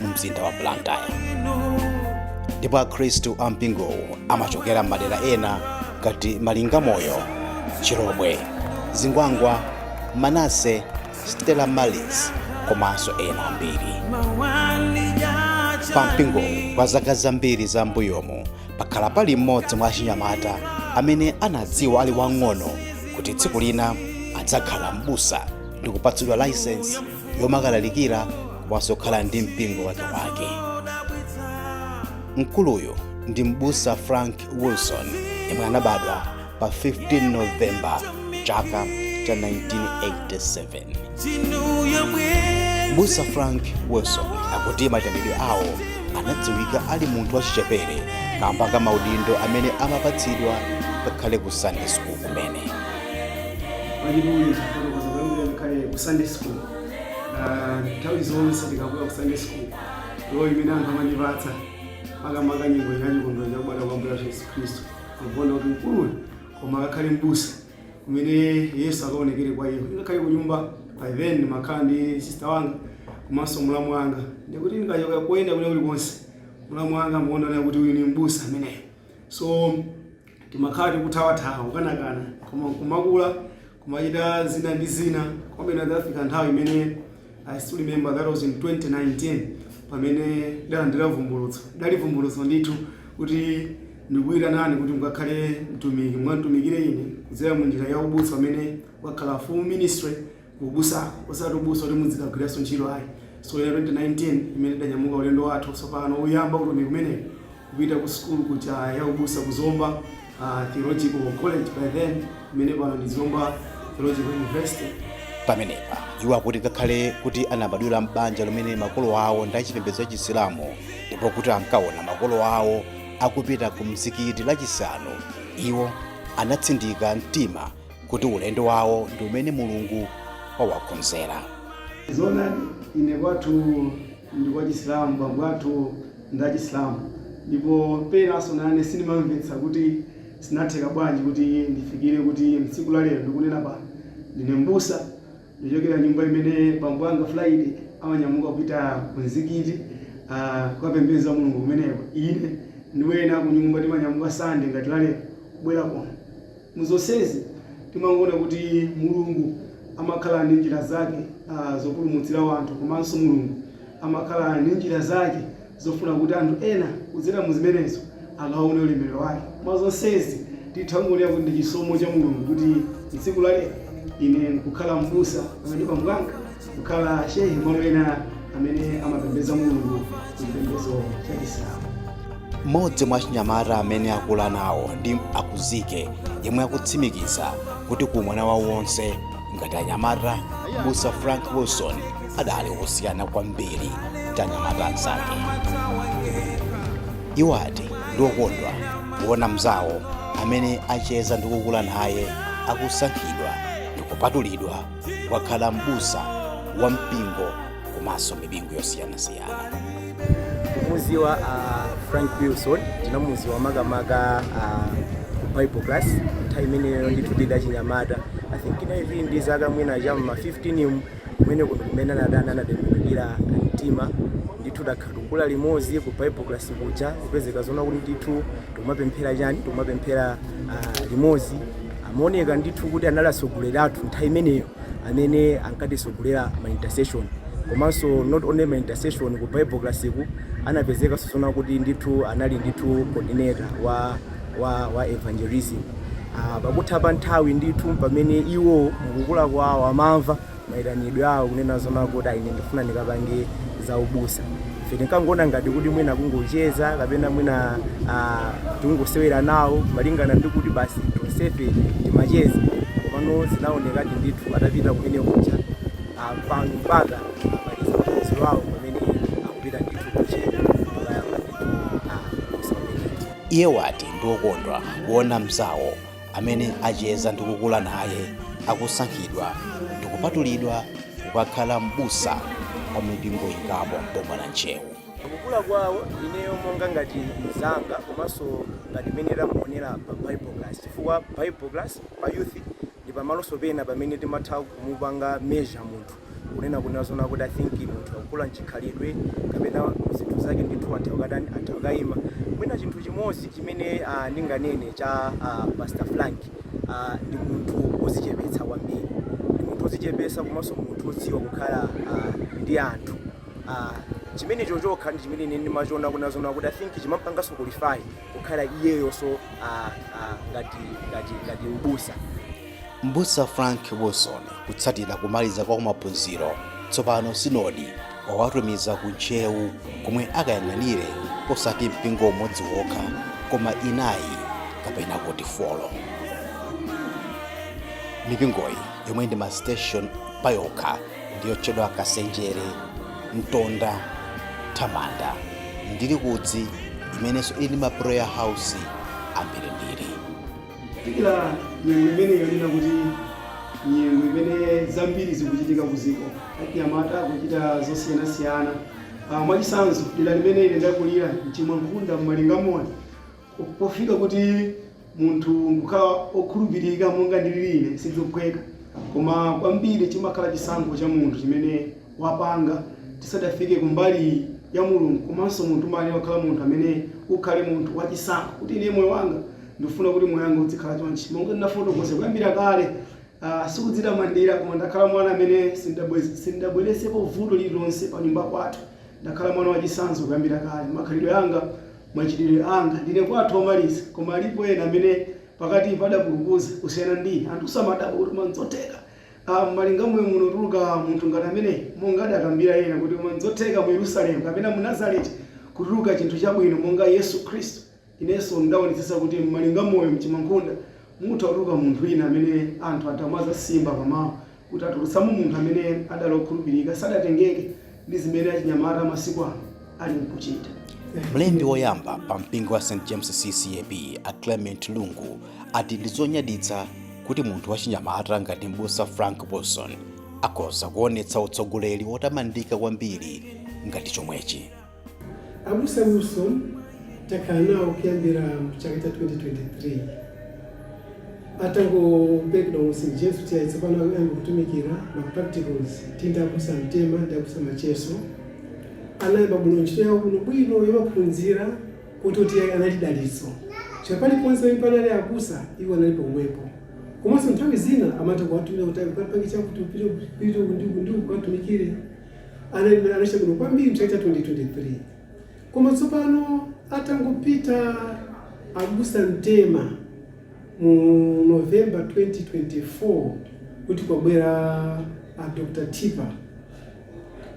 mu mzinda wa blantyre ndipo akhristu a mpingowu amachokera m'madera ena ngati malingamoyo chilobwe zingwangwa manase stella maris komanso ena ambiri pa mpingowu kwa zaka zambiri za mbuyomu pakhala pali mmodzi mwa achinyamata amene anadziwa ali wang'ono kuti tsiku lina adzakhala m'busa ndi kupatsidwa layisensi yomakalalikira komanso kukhala ndi mpingo wakewake mkuluyu ndi m'busa frank wilson yemwe anabadwa pa 15 novemba chaka cha 1987 m'busa frank wilson akuti maitanidwe awo anadziwika ali munthu wachichepere kamba ka maudindo amene amapatsidwa ngakhale ku sunday school kumene Baibulo lifotokoza kuyambira ngakhale ku Sunday school. Ah, Nthawi zonse tikabwera ku Sunday school, role imene anthu amandipatsa makamaka nyengo ya chikondwero cha kubadwa kwa Ambuye wathu Yesu Khristu. Ndikuona kuti mkuluyu koma akakhale m'busa kumene Yesu akaonekere kwa iwo. Ngakhale ku nyumba by then ndimakhala ndi sister wanga komanso mlamu wanga. Ndikuti ndikachoka koyenda kulikonse mlamu wanga amaona kuti uyu ni m'busa ameneyo. So Timakhala tikuthawathawa, kukanakana, koma nkumakula, kumachita zina ndi zina, komabe inadzafika nthawi imene, I still remember that was in 2019, pamene ndidalandira vumbulutso. Lidali vumbulutso ndithu kuti ndikukuitanani kuti mukakhale mtumiki, mukanditumikire ine kudzera mu njira ya ubusa umene ukakhala full ministry. ubusako osati ubusa kuti mudzikagwiranso ntchito ayi so ya 2019 imene tidanyamuka ulendo wathu tsopano woyamba utumiki umenewu kupita ku sukulu kuja ya ubusa ku zomba uh, theological college by then imene pano ndi zomba theological university pamenepa iwo akuti ngakhale kuti anabadwira m'banja limene makolo awo ndi achipembedzo cha chisilamu ndipo kuti ankaona makolo awo akupita ku mzikiti lachisanu iwo anatsindika mtima kuti ulendo wawo ndi umene mulungu wawakonzera zona ine kwathu ndi kwa chisilamu bambo athu ndi achisilamu ndipo penanso nane sindimamvetsa kuti zinatheka bwanji kuti ndifikire kuti mtsiku la lero ndikunena pano ndine mbusa ndichokera nyumba imene bambo anga friday amanyamuka kupita ku mzikiti ah, kukapembeza mulungu kumeneko ine ndi wena kunyumba timanyamuka sande ngati la lero kubwera kuno Mu zonsezi, timangoona kuti Mulungu amakhala ndi njira zake zopulumutsira wanthu komanso Mulungu amakhala ndi njira zake zofuna kuti anthu ena kudzera mu zimenezo akaone ulemerero wake. Mwa zonsezi, titha kungonena kuti ndi chisomo cha Mulungu kuti tsiku la lero ine nkukhala m'busa pakati pa Mphwanga. kukhala shehe malo ena amene amapembeza mulungu chipembezo cha chisilamu mmodzi mwa chinyamata amene akula nawo ndi akuzike yemwe akutsimikiza kuti ku mwana wawo wonse ngati anyamata m'busa frank wilson adali osiyana kwambiri ndi anyamata anzake iwo ati ndiokondwa kuona mzawo amene acheza ndi kukula naye akusankhidwa ndi kupatulidwa kukakhala m'busa wa mpingo komanso mipingo yosiyanasiyana kumuziwa uh, frank wilson ndinamuziwa makamaka uh, ku bible class nthawi imeneyo ndithu ndidali wachinyamata i think ndinali ndi zaka mwina cha ma 15 mu kumene kuno kumene anatani anatembenukira mtima ndithu takhala tikukula limodzi ku bible class kuja kupezeka zoona kuti ndithu tikumapemphera chani tikumapemphera ah, limodzi amaoneka ndithu kuti anali atsogoleri athu nthawi imeneyo amene ankatitsogolera ma intercession komanso not only ma intercession ku bible class-ku anapezekanso zoona kuti ndithu anali ndithu coordinator wa, wa, wa evangelism Ah, pakutha pa nthawi ndithu pamene iwo mukukula kwawo amamva maitanidwe awo kunena zoona kuti ayi ine ndikufuna ndikapange za ubusa ife tinkangoona ngati kuti mwina kungocheza kapena mwina ah, tikungosewera nawo malingana ndi kuti basi tonsefe timacheza komano zinaonekadi ndithu atapita kumene kuja ah, pano mpaka amaliza maphunziro awo pamene akupita ndithu ku Ntcheu kukayamba ndithu ah, ubusa umenewu Iye wati ndiokondwa kuona mzawo amene acheza ndi kukula naye akusankhidwa ndi kupatulidwa kukakhala m'busa kwa mipingo ingapo m'boma la ntcheu pakukula kwawo ineyo monga ngati mzanga komanso ngati mmene tamuonera pa bible class chifukwa bible class pa youth ndi pamalonso pena pamene timatha kumupanga measure munthu kunena kunena zoona kuti i think munthu akukula mchikhalidwe kapena mzinthu zake ndithu atha kukatani atha kukayima mwina chinthu chimodzi chimene ah, ndinganene cha ah, pastor frank ah, ndi munthu wozichepetsa kwambiri ndi munthu wozichepetsa komanso munthu wodziwa kukhala ah, ndi anthu ah, chimenecho chokha ndi chimene ine ndimachiona kunena zoona kuti i think chimampanganso qualify kukhala iyeyonso ah, ah, ngati ngati ngati ubusa Mbusa Frank Wilson potsatira kumaliza kwa maphunziro tsopano Sinodi wawatumiza ku Ntcheu komwe akayang'anire osati mpingo umodzi wokha koma inayi kapena kuti folo. Mipingoyi yomwe ndi masiteshoni payokha ndiyotchedwa Kasenjere, Mtonda, Thamanda ndi Likudzi imenenso ili ndi ma prayer house ambirimbiri. kufikira nyengo imene yonena kuti nyengo imene zambiri zikuchitika ku dziko anyamata akuchita zosiyanasiyana Ah, mwachitsanzo dera limene ine ndakulira m'Chimwankhunda m'Malingamoyo pofika kuti munthu kukhala okhulupirika monga ndililiri ine sizophweka koma kwambiri chimakhala chisankho cha munthu chimene wapanga tisadafike ku mbali iyi ya Mulungu komanso munthu umayenera kukhala munthu amene ukhale munthu wa chisankho kuti ine moyo wanga ndikufuna kuti moyo wanga udzikhala chonchi monga ndinafotokoza kuyambira kale uh, sikudzitamandira koma ndakhala mwana amene sindabweresepo vuto lililonse pa nyumba kwathu ndakhala mwana wachisankho kuyambira kale makhalidwe anga machitidwe anga ndine kwathu omaliza koma alipo ena amene pakati padapulupuza kusiyana ndi anthu samadabwa kuti koma n'zotheka M'Malingamoyo muno kutuluka munthu ngati ameneyi, monga adakambira ena kuti koma n'zotheka mu Yerusalemu kapena mu Nazareti kutuluka chinthu chabwino monga Yesu Khristu. Inenso n'daonetsetsa kuti m'Malingamoyo m'Chimwankhunda mutha kutuluka munthu wina amene anthu adzayamba kusimba m'mawu kuti atulutsamo munthu amene adali okhulupirika, sadatengeke. ndi zimene achinyamata amasiku ano alinkuchita. Mlembi woyamba pa mpingo wa St James CCAP a Clement Lungu ati ndi zonyaditsa kuti munthu wachinyamata ngati mbusa Frank Wilson akhoza kuonetsa utsogoleri wotamandika kwambiri ngati chomwechi. Abusa Wilson takhala nawo kuyambira mu chaka cha 2023 Atangopemphedwa mu St James kuti ayi tsopano ayambe kutumikira ma practicals tili ndi abusa Mtema ndi abusa Macheso anayamba bwino ntchito yawo bwino bwino yomaphunzira koteroti ayi anali dalitso chifukwa paliponse pamene panali abusa iwo anali pomwepo komanso nthawi zina amatha kuwatumira kuti ayi ukapange chakuti upite uku- upite uku ndi uku ndi uku ukatumikire anali anachita bwino kwambiri mchaka cha 2023 Koma tsopano atangopita abusa Mtema mu November 2024 kuti kwabwera a Dr Tipper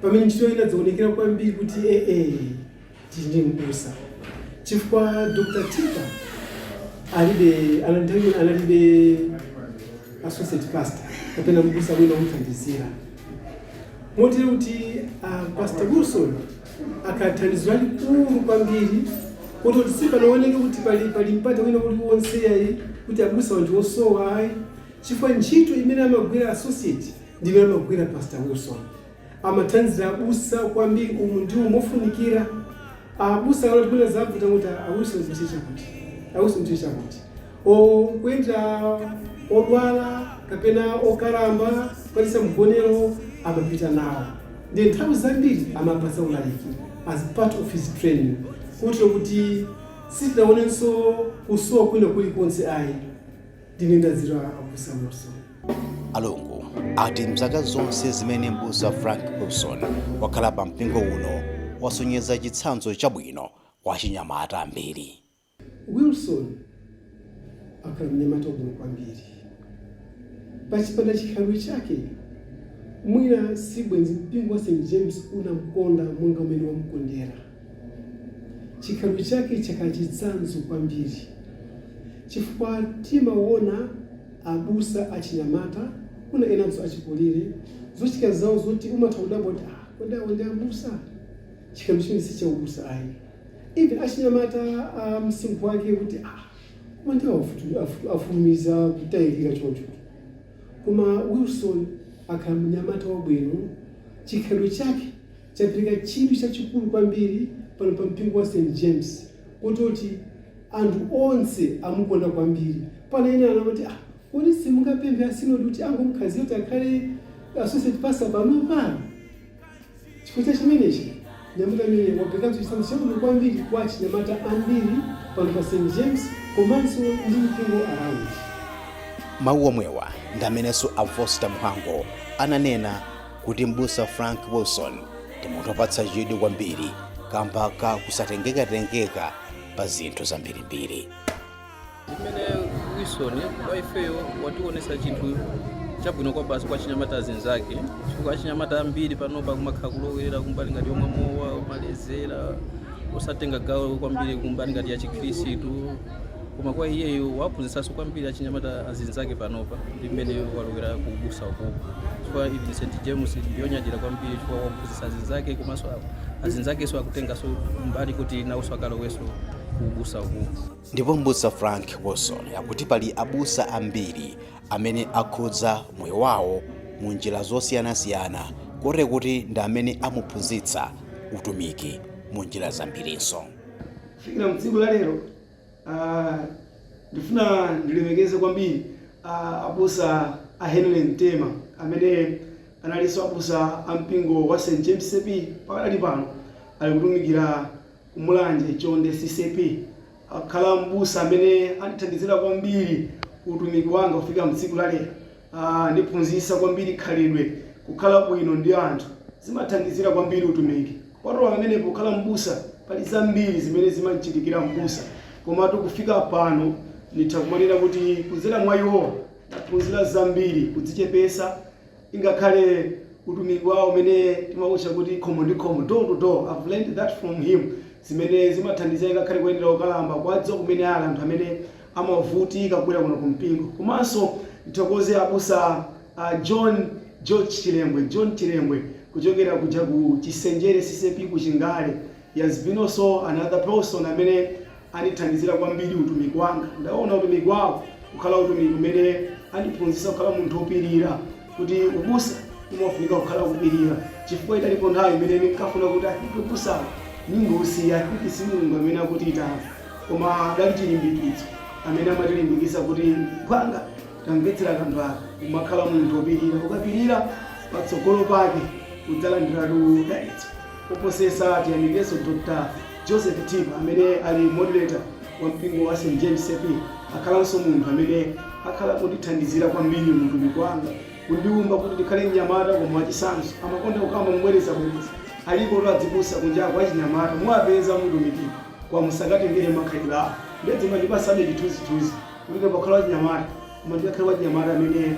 pamene ntchito inadzaonekera kwambiri kuti eeh tili ndi m'busa chifukwa Dr Tipper analibe anali nthawi imene analibe associate pastor kapena m'busa wina omuthandizira motero kuti a Pastor Wilson akhala thandizo lalikulu kwambiri kuti kuti sipanaoneke kuti pali pali mpata wina uliwonse ayi kuti abusa wathu wasowa ayi chifukwa ntchito imene amagwira associate ndimene amagwira pastor wilson amathandiza abusa kwambiri umu ndi umu mofunikira abusa akati mwina zavuta kuti awilson mticha kuti awilson mticha kuti Kuyendera odwala kapena okalamba kukapatsa mgonero amapita nawo nde nthawi zambiri amampatsa ulaliki as part of his training kotero kuti sitinaonenso kusowa kwina kuli konse ayi. Ndi mene ndadziwira Abusa Wilson. Alongo ati mzaka zonse zimene Mbusa Frank Wilson wakhala pa mpingo uno wasonyeza chitsanzo chabwino kwa achinyamata ambiri. Wilson akhala mnyamata wabwino kwambiri pachipanda chikhalidwe chake, mwina si bwenzi mpingo wa St. James unamkonda monga umene wamkondera. Chikhalidwe chake chakhala chitsanzo kwambiri chifukwa timaona abusa achinyamata kunja kuno enanso achikulire zochitika zawo zoti umatha kudabwa kuti ah, kodi awo ndi abusa? Chikhalidwe chimene si chaubusa ayi. even achinyamata a msinkhu wake kuti ah koma ndi afutu- afutu- afulumiza kutayirira choncho koma wilson akhala mnyamata wabwino chikhalidwe chake chapereka chidwi chachikulu kwambiri pano pa mpingo wa st james kototi anthu onse amukonda kwambiri pena ena anamati ah kodi simungapemphe asinodi kuti angomkhazira kuti akhale associate pastor panopa Chifukwa cha chimenechi, mnyamata ameneyu waperekanso chitsanzo chabwino kwambiri kwa achinyamata ambiri pano pa St James komanso ndi mipingo around. Mawu omwewa ndi amenenso a Foster Mhango ananena kuti m'busa Frank Wilson ndi munthu opatsa chidwi kwambiri kamba ka kusatengekatengeka pa zinthu zambirimbiri. mmene wilson kwa ifeyo watiwonesa chinthu chabwino kwabasi kwa achinyamata azinzake chifukwa achinyamata ambiri panopa umakhala kulowerera kumbali ngati yomwa mowa umalezera osatenga gawo kwambiri kumbali ngati ya chikhirisitu koma kwa iyeyo waphunzitsanso kwambiri achinyamata azinzake panopa ndi mmene walowera ku ubusa ukuku chifukwa even st james ndiyonyadira kwambiri chifukwa waphunzitsa azinzake komanso azinzakenso akutenganso mbali kuti nawonso akalowenso ku ubusa ukuku Ndipo M'busa Frank Wilson akuti pali abusa ambiri amene akhudza moyo wawo mu njira zosiyanasiyana kotero kuti ndi amene amuphunzitsa utumiki mu njira zambirinso. Kufikira tsiku la lero, ndifuna ndilemekeze kwambiri abusa a Henry Mtema amene analinso abusa a mpingo wa St James CCAP pakadali pano ali kutumikira. Ku Mulanje, Chonde CCAP akhala m'busa amene andithandizira kwambiri ku utumiki wanga kufikira tsiku la lero. Andiphunzitsa kwambiri khalidwe. Kukhala bwino ndi anthu zimathandizira kwambiri utumiki. Kupatula pamenepo pokhala m'busa pali zambiri zimene zimamchitikira m'busa. Komatu kufika pano nditha kumanena kuti kudzera mwa iwowa ndaphunzira zambiri, kudzichepetsa. Ingakhale utumiki wawo umene timautcha kuti khomo ndi khomo, door to door, I've learned that from him, zimene zimathandiza ingakhale kuyendera okalamba kuwadziwa kumene ali, anthu amene amavutika kubwera kuno ku mpingo. Komanso ndithokoze abusa a John George Chirengwe, John Chirengwe, kuchokera kuja ku Chisenjere ccap ku Chingale. He has been also another person amene andithandizira kwambiri utumiki wanga. Ndaona utumiki wawo kukhala utumiki umene andiphunzitsa kukhala munthu wopirira, kuti ubusa umafunika kukhala kupirira, chifukwa idalipo nthawi imene ndinkafuna kuti I think ubusawu ndingousiya, I think si Mulungu amene akutiitana. Koma adali chilimbikitso, amene amatilimbikitsa kuti, Mphwanga, tamvetsera kanthu aka, umakhala munthu wopirira, ukapirira patsogolo pake udzalandiratu dalitso. koposesa tiyamikeso Dr Josephy Thima amene ali moderator wa mpingo wa St James CCAP akhalanso munthu amene akhala akundithandizira kwambiri mu utumiki wanga kundiumba kuti ndikhale mnyamata koma wachisanzo amakonda kukamba mobwerezabwereza alipotu azibusa kunjako achinyamata muwapeza mutumiki koma musakatengere makhalidwe awo nde zimandipatsabe chithunzithunzi kuti ndikakhale wachinyamata koma ndikakhale wachinyamata amene